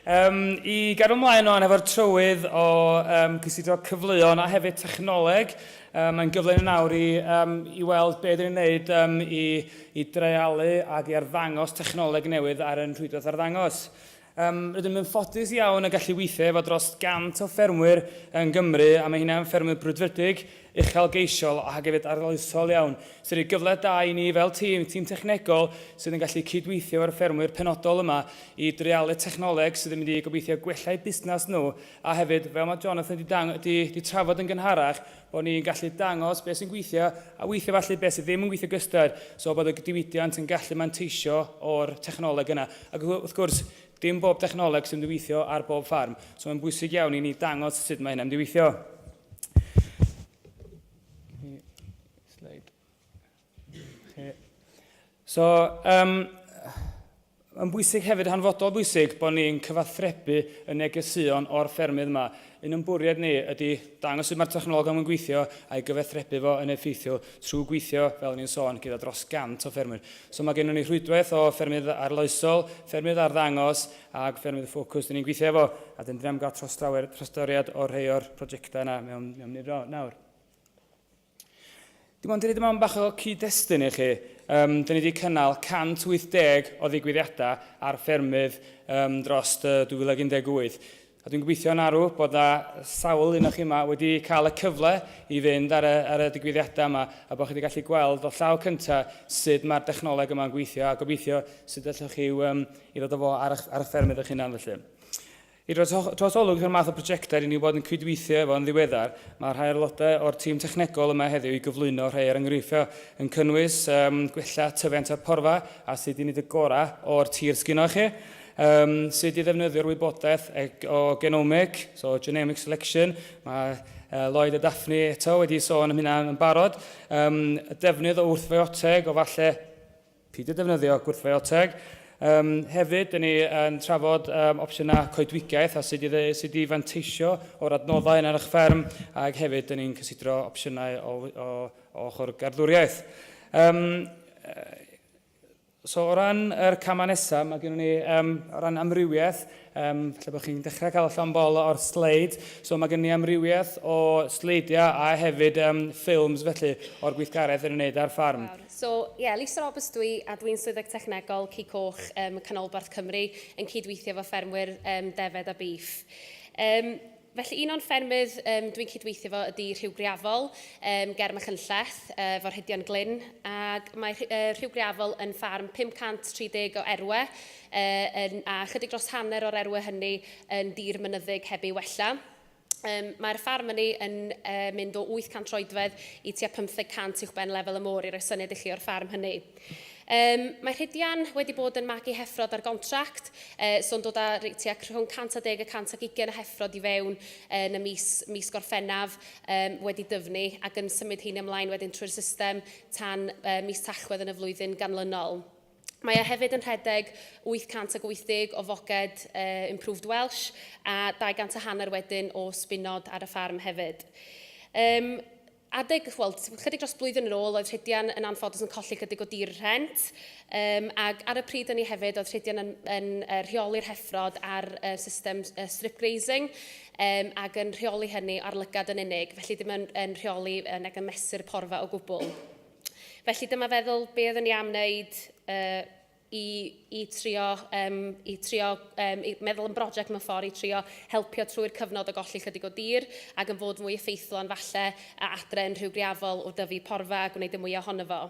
Um, I gadw ymlaen o'n efo'r trywydd o um, cysidro cyfleon a hefyd technoleg, um, mae'n gyfle yn awr i, um, i weld beth ydyn ni'n gwneud um, i, i dreialu ac i arddangos technoleg newydd ar yn rhwydwaith arddangos. Rydym yn ffodus iawn o gallu weithio efo dros 100 o ffermwyr yng Nghymru a mae heina yn ffermwyr brwdfrydig, uchelgeisiol ac hefyd arloesol iawn sy'n rhoi cyfle da i ni fel tîm, tîm technegol sydd yn gallu cyd-weithio efo'r ffermwyr penodol yma i dreialu technoleg sydd yn mynd i gobeithio gwella eu busnes nhw a hefyd, fel mae Jonathan 'di trafod yn gynharach, Bod ni'n gallu dangos beth sy'n gweithio a weithiau falle beth sydd ddim yn gweithio gysdod. So bod y diwydiant yn gallu manteisio o'r technoleg yna. Ac wrth gwrs, dim bob technoleg sy'n diweithio ar bob ffarm. So mae'n bwysig iawn i ni dangos sut mae hynna'n diweithio. Okay. So, um, yn bwysig hefyd, hanfodol bwysig, bod ni'n cyfathrebu y negeseuon o'r ffermydd yma. Un o'n bwriad ni ydy dangos sut mae'r technoleg yn gweithio a'i gyfathrebu fo yn effeithiol trwy gweithio, fel ni'n sôn, gyda dros 100 o ffermwyr. So mae gennym ni rhwydwaith o ffermydd arloesol, ffermydd arddangos ac ffermydd ffocws dyn ni'n gweithio efo, a dyn ni'n cael trostoriad o'r rhai o'r prosiectau yna mewn, mewn nifer nawr. Dim ond i roid yma bach o cyd-destun i chi, um, dyn ni wedi cynnal 180 o ddigwyddiadau ar ffermydd um, dros 2018. A dwi'n gobeithio yn arw bod na sawl un o'ch chi yma wedi cael y cyfle i fynd ar y, ar y digwyddiadau yma a bod chi wedi gallu gweld o llaw cyntaf sut mae'r dechnoleg yma'n gweithio a gobeithio sut allwch chi um, i ddod o fo ar, ar y ffermydd eich hunan felly. I roi trosolwg i'r math o brojectau ry'n ni wedi cydweithio efo yn ddiweddar, mae rhai o'r aelodau o'r tîm technegol yma heddiw i gyflwyno rhai o'r enghreifftiau, yn cynnwys yym gwella tyfiant o'r porfa a sut i wneud y gorau o'r tir sgynnoch chi, yym sut i ddefnyddio'r wybodaeth o genomic, so genomic selection, mae uh, Lloyd a Daphne eto wedi sôn am hynna yn barod, um, y defnydd o wrthfeoteg o falle Peidio defnyddio gwrthryfel teg. Um, hefyd, dyn ni yn trafod um, opsiynau coedwigaeth a sut i, sut i fanteisio o'r adnoddau yn ar eich fferm, ac hefyd, dyn ni'n cysidro opsiynau o, o, o ochr garddwriaeth. Um, So o ran yr camau nesaf, mae gennym ni um, o ran amrywiaeth, um, lle bod chi'n dechrau cael allan bol o'r sleid. So mae gennym ni amrywiaeth o sleidiau a hefyd um, ffilms felly o'r gweithgaredd yn ymwneud â'r ffarm. So, ie, Lisa Roberts dw i, a dw i'n Swyddog Technegol Cig Coch ym Canolbarth Cymru, yn cyd-weithio efo ffermwyr yym defed a bîff. Yym, felly, un o'n ffermydd yym dw i'n cyd-weithio efo ydi Rhiw Greafol yym ger Machynlleth, yy, efo Rhedion Glyn, ac mae Rhi- yy Rhiw Greafol yn ffarm 530 o erwe, yy, yn, a chydig dros hanner o'r erwe hynny yn dir mynyddig heb ei wella. Um, Mae'r ffarm yn ei yn uh, mynd o 800 troedfedd i tua 500 uwch ben lefel y môr i roi syniad i chi o'r ffarm hynny. Um, mae Rhydian wedi bod yn magu heffrod ar gontract, uh, so'n dod â tua rhwng 110 a 120 o heffrod i fewn uh, yn y mis, mis gorffennaf um, wedi dyfnu ac yn symud heini ymlaen wedyn trwy'r system tan uh, mis tachwedd yn y flwyddyn ganlynol. Mae e hefyd yn rhedeg 880 o foced uh, Improved Welsh a 200 a hanner wedyn o sbinod ar y ffarm hefyd. Um, adeg, wel, chydig dros blwyddyn yn ôl, oedd Rhydian yn anffodus yn colli chydig o dir rhent, um, ac ar y pryd yn ei hefyd, oedd Rhydian yn, yn uh, rheoli'r heffrod ar uh, system uh, strip grazing, um, ac yn rheoli hynny ar lygad yn unig, felly ddim yn, yn rheoli uh, nag yn mesur porfa o gwbl. Felly dyma feddwl be oeddwn ni am wneud uh, i, i trio, um, i trio um, i meddwl yn brosiect mewn ffordd i trio helpio trwy'r cyfnod o golli chydig o dir ac yn fod mwy effeithlon falle a adre yn rhyw griafol o dyfu porfa a gwneud y mwyaf ohono fo.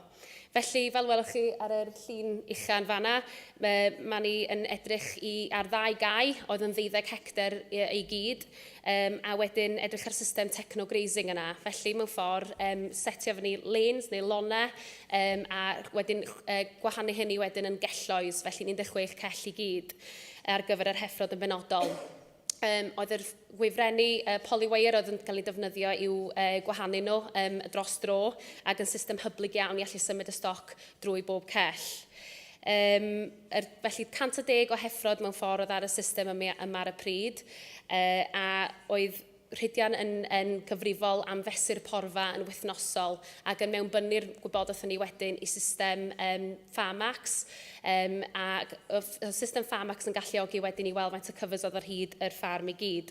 Felly, fel welwch chi ar yr llun uchan fanna, mae ni yn edrych i, ar ddau gau oedd yn ddeuddeg hectar i gyd, Yym, a wedyn edrych ar system techno-grazing yna. Felly, mewn ffordd, um, setio fyny lanes neu lone, um, a wedyn uh, gwahanu hynny wedyn yn gelloes, felly 16 cell i gyd ar gyfer yr heffrod yn benodol. Um, oedd yr gwifrennu uh, polywire oedd yn cael ei defnyddio i'w uh, gwahanu nhw um, dros dro ac yn system hyblyg iawn i allu symud y stoc drwy bob cell. Um, Yr, felly, 110 o heffrod mewn ffordd oedd ar y system yma, yma ar y pryd, uh, a oedd Rhydian yn, yn gyfrifol am fesur porfa yn wythnosol ac yn mewnbynnu'r gwybodaeth hynny wedyn i system um, Pharmax um, a oedd system Pharmax yn galluogi wedyn i weld faint o cyfres oedd ar hyd yr ffarm i gyd.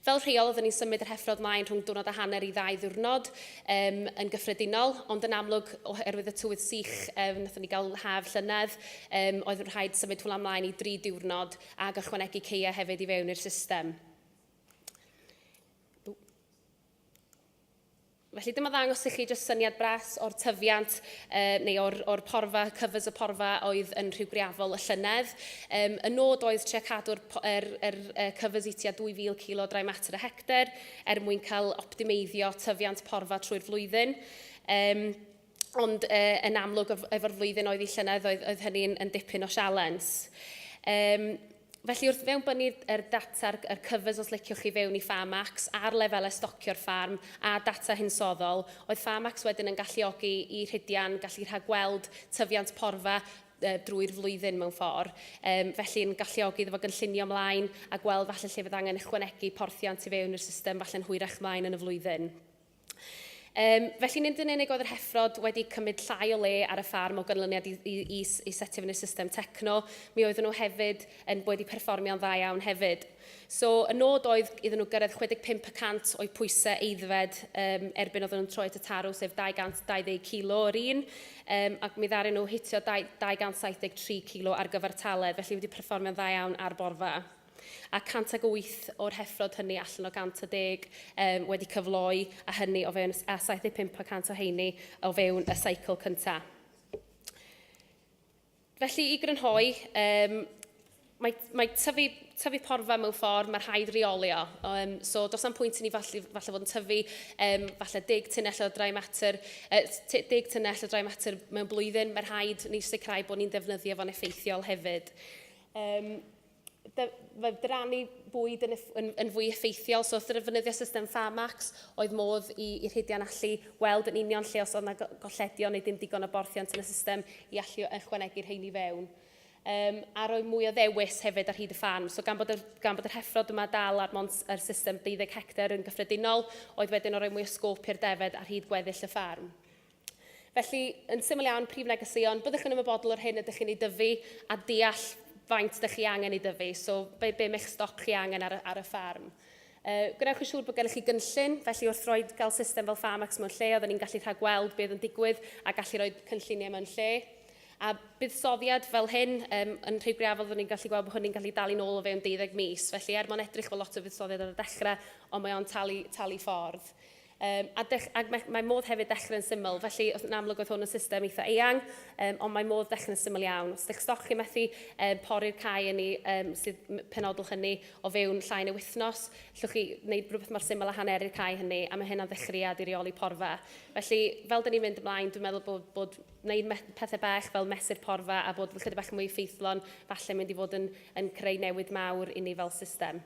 Fel rheol, oeddwn ni'n symud yr heffrod mlaen rhwng diwrnod a hanner i ddau ddiwrnod um, yn gyffredinol, ond yn amlwg, oherwydd y tywydd sych, um, wnaethon ni gael haf llynedd, um, oedd yn rhaid symud hwnna mlaen i dri diwrnod a gychwanegu ceia hefyd i fewn i'r system. Felly dyma ddangos i chi jyst syniad bras o'r tyfiant uh, neu o'r, or porfa, cyfys y porfa oedd yn rhyw greafol y llynedd. Um, y nod oedd tre cadw'r er, er, er cyfys i tua 2,000 kilo drai metr y hector er mwyn cael optimeiddio tyfiant porfa trwy'r flwyddyn. Um, ond e, yn amlwg efo'r flwyddyn oedd i llynedd oedd, oedd hynny'n yn dipyn o sialens. Um, felly wrth fewn bynu er data'r er cyfres os liciwch chi fewn i Farmax ar lefelau stocio'r ffarm a data hinsoddol, oedd Farmax wedyn yn galluogi i rhidian gallu rhagweld tyfiant porfa e, drwy'r flwyddyn mewn ffordd. Um, felly'n galluogi iddo fo gynllunio ymlaen a gweld falle lle fydd angen ychwanegu porthiant i fewn i'r system falle'n hwyrach ymlaen yn y flwyddyn. Um, felly nid yn unig oedd yr heffrod wedi cymryd llai o le ar y ffarm o ganlyniad i, i, i, i setio fyny system techno, mi oedden nhw hefyd yn wedi perfformio'n dda iawn hefyd. So, y nod oedd iddyn nhw gyrraedd 65 y cant o'i pwysau eiddfed um, erbyn oedden nhw'n troi at y tarw, sef 220 kilo yr un, um, ac mi ddaru nhw hitio 273 kilo ar gyfer taledd, felly wedi perfformio'n dda iawn ar borfa. a 108 o'r heffrod hynny allan o 110 um, wedi cyfloi a hynny o fewn a 75 o 100 o heini o fewn y cycle cyntaf. Felly i grynhoi, um, mae, mae tyfu, tyfu porfa mewn ffordd, mae rhaid reoli o. Um, so, dos am pwynt i ni falle, falle fod yn tyfu, um, falle deg tunnell o drai mater, uh, deg tunnell o drai mater mewn blwyddyn, mae rhaid ni sicrhau bod ni'n defnyddio fo'n effeithiol hefyd. Um, mae drannu bwyd yn, yn, yn fwy effeithiol. So, wrth ddefnyddio system Farmax, oedd modd i, i rhidian allu weld yn union lle os oedd yna golledion neu dim digon o borthiant yn y system i allu ychwanegu rhein i fewn. Um, a roi mwy o ddewis hefyd ar hyd y ffarm. So gan bod, y, gan bod yr heffrod yma dal ar mont yr system 12 hectar yn gyffredinol, oedd wedyn o roi mwy o sgôp i'r defed ar hyd gweddill y ffarm. Felly, yn syml iawn, prif negeseuon, byddwch yn ymwybodol o'r hyn ydych chi'n ei dyfu a deall faint ydych chi angen ei dyfu, so be, be mae'ch stoc chi angen ar, ar y ffarm. Uh, gwnewch yn siŵr bod gennych chi gynllun, felly wrth roi cael system fel Farmax mewn lle, oedden ni'n gallu rhag gweld beth yn digwydd a gallu rhoi cynlluniau mewn lle. A buddsoddiad fel hyn, um, yn rhyw greafol, oedden ni'n gallu gweld bod hynny'n gallu dal i'n ôl o fewn 12 mis. Felly, er mwyn edrych fel lot o fuddsoddiad ar y dechrau, ond mae o'n talu, talu ffordd. Um, a dech, ac mae, mae modd hefyd dechrau'n syml, felly yn amlwg oedd hwn yn system eitha eang, um, ond mae modd dechrau'n syml iawn. Os ydych stoc chi methu um, pori'r cae yn ni, um, sydd penodol hynny o fewn llai neu wythnos, llwch chi wneud rhywbeth mor syml a haneri'r cae hynny, a mae hynna'n ddechreuad i reoli porfa. Felly, fel dyn ni'n mynd ymlaen, dwi'n meddwl bod, bod wneud pethau bach fel mesur porfa a bod chyda bach mwy ffeithlon, falle mynd i fod yn, yn creu newid mawr i ni fel system.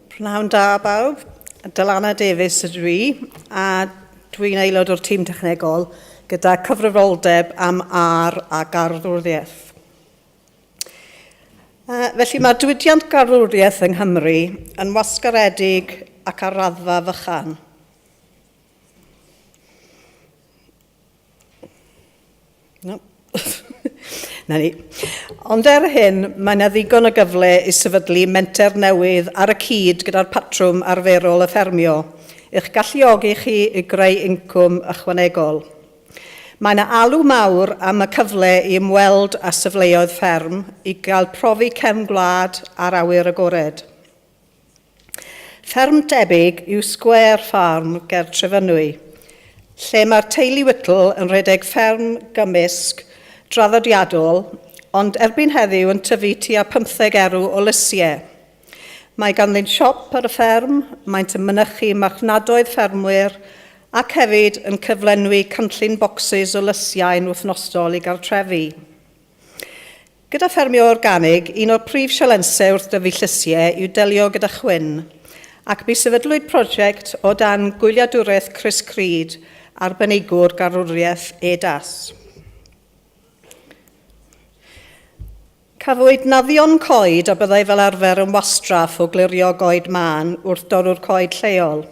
Pnawn da bawb, Dylanna Davies ydw i a dwi'n aelod o'r tîm technegol gyda cyfrifoldeb am ar a garddwriaeth. Uh, felly mae diwydiant garddwriaeth yng Nghymru yn wasgaredig ac ar raddfa fychan. No. Na ni. Ond er hyn, mae yna ddigon o gyfle i sefydlu menter newydd ar y cyd gyda'r patrwm arferol o ffermio, i'ch galluogi chi i greu incwm ychwanegol. Mae yna alw mawr am y cyfle i ymweld â safleoedd fferm i gael profi cefn gwlad ar awyr agored. Fferm debyg yw Square Farm ger Trefynwy, lle mae'r teulu Whittle yn rhedeg fferm gymysg draddodiadol ond erbyn heddiw yn tyfu tua pymtheg erw o lysiau. Mae ganddynt siop ar y fferm, maent yn mynychu marchnadoedd ffermwyr ac hefyd yn cyflenwi cynllun bocsys o lysiau'n wythnosol i gartrefi. Gyda ffermio organig, un o'r prif sialensau wrth dyfu llysiau yw delio gyda chwyn, ac mi sefydlwyd prosiect o dan gwyliadwraeth Chris Creed, arbenigwr garwriaeth EDAS. Cafwyd naddion coed a byddai fel arfer yn wastraff o glirio goed mân wrth dorrwr coed lleol.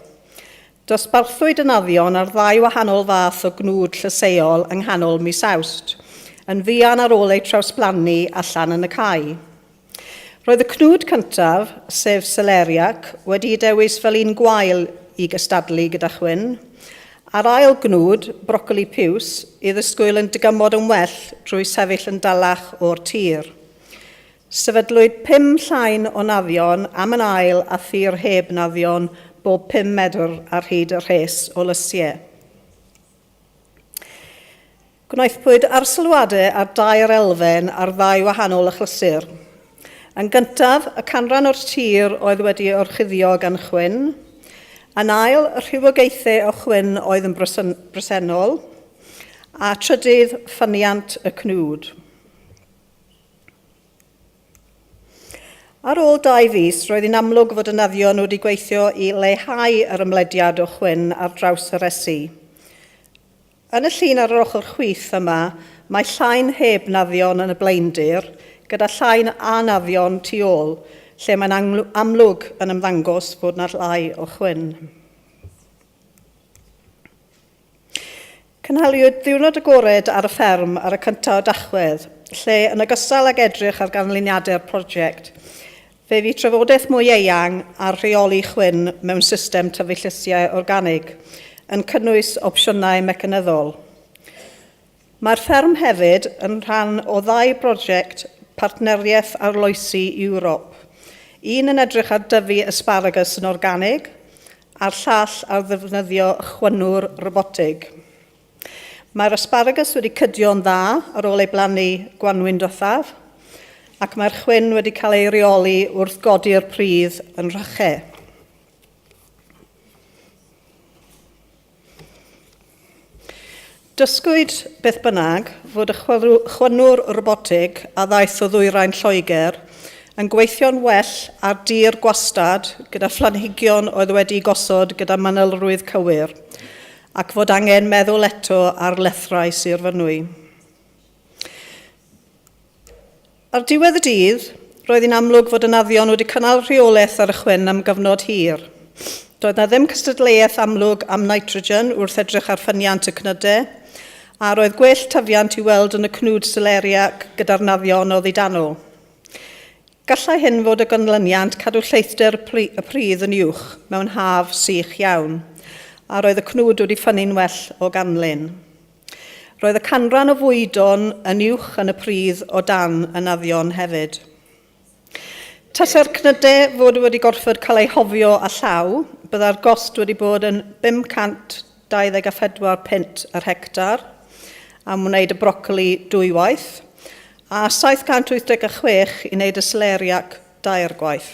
Dosbarthwyd y naddion ar ddau wahanol fath o gnwd llysieuol yng nghanol mis Awst, yn fuan ar ôl eu trawsblannu allan yn y cae. Roedd y cnwd cyntaf, sef seleriac, wedi'i dewis fel un gwael i gystadlu gyda chwyn, a'r ail gnwd, brocoli piws, i ddisgwyl yn dygymod yn well drwy sefyll yn dalach o'r tir. Sefydlwyd pum llain o naddion am yn ail a thir heb naddion bob pum medr ar hyd y rhes o lysiau. Gwnaethpwyd arsylwadau ar dair elfen ar ddau wahanol achlysur. Yn gyntaf, y canran o'r tir oedd wedi orchuddio gan chwyn. Yn ail, y rhywogaethau o chwyn oedd yn bresennol. A trydydd, ffyniant y cnwd. Ar ôl dau fis, roedd yn amlwg fod y naddion wedi gweithio i leihau yr ymlediad o chwyn ar draws y resi. Yn y llun ar yr ochr chwith yma, mae llain heb naddion yn y blaendir, gyda llain a naddion tu ôl, lle mae'n amlwg yn ymddangos bod yna llai o chwyn. Cynhaliwyd Ddiwrnod Agored ar y Fferm ar y cyntaf o Dachwedd, lle yn ogystal ag edrych ar ganlyniadau'r prosiect, fe fu trafodaeth mwy eang ar rheoli chwyn mewn system tyfu llysiau organig, yn cynnwys opsiynau mecanyddol. Mae'r fferm hefyd yn rhan o ddau brosiect Partneriaeth Arloesi Ewrop, un yn edrych ar dyfu asparagus yn organig a'r llall ar ddefnyddio chwynwr robotig. Mae'r asparagus wedi cydio'n dda ar ôl ei blannu gwanwyn diwethaf ac mae'r chwyn wedi cael ei reoli wrth godi'r pridd yn Rhyche. Dysgwyd, beth bynnag, fod y chwynwr robotig a ddaeth o ddwyrain Lloegr yn gweithio'n well ar dir gwastad gyda phlanhigion oedd wedi'u gosod gyda manylrwydd cywir, ac fod angen meddwl eto ar lethrau Sir Fynwy. Ar ddiwedd y dydd, roedd hi'n amlwg fod y naddion wedi cynnal rheolaeth ar y chwyn am gyfnod hir. Doedd 'na ddim cystadleuaeth amlwg am nitrogen wrth edrych ar ffyniant y cnydau, a roedd gwell tyfiant i'w weld yn y cnwd seleriac gyda'r naddion oddi dano. Gallai hyn fod o ganlyniant cadw lleithder y pridd yn uwch mewn haf sych iawn, a roedd y cnwd wedi ffynnu'n well o ganlyn. Roedd y canran o fwydo'n yn uwch yn y pridd o dan y naddion hefyd. Tasa'r cnydau fod wedi gorfod cael eu hofio a llaw, byddai'r gost wedi bod yn 524 punt yr hectar am wneud y brocoli dwy waith, a 786 i wneud y seleriac dair gwaith.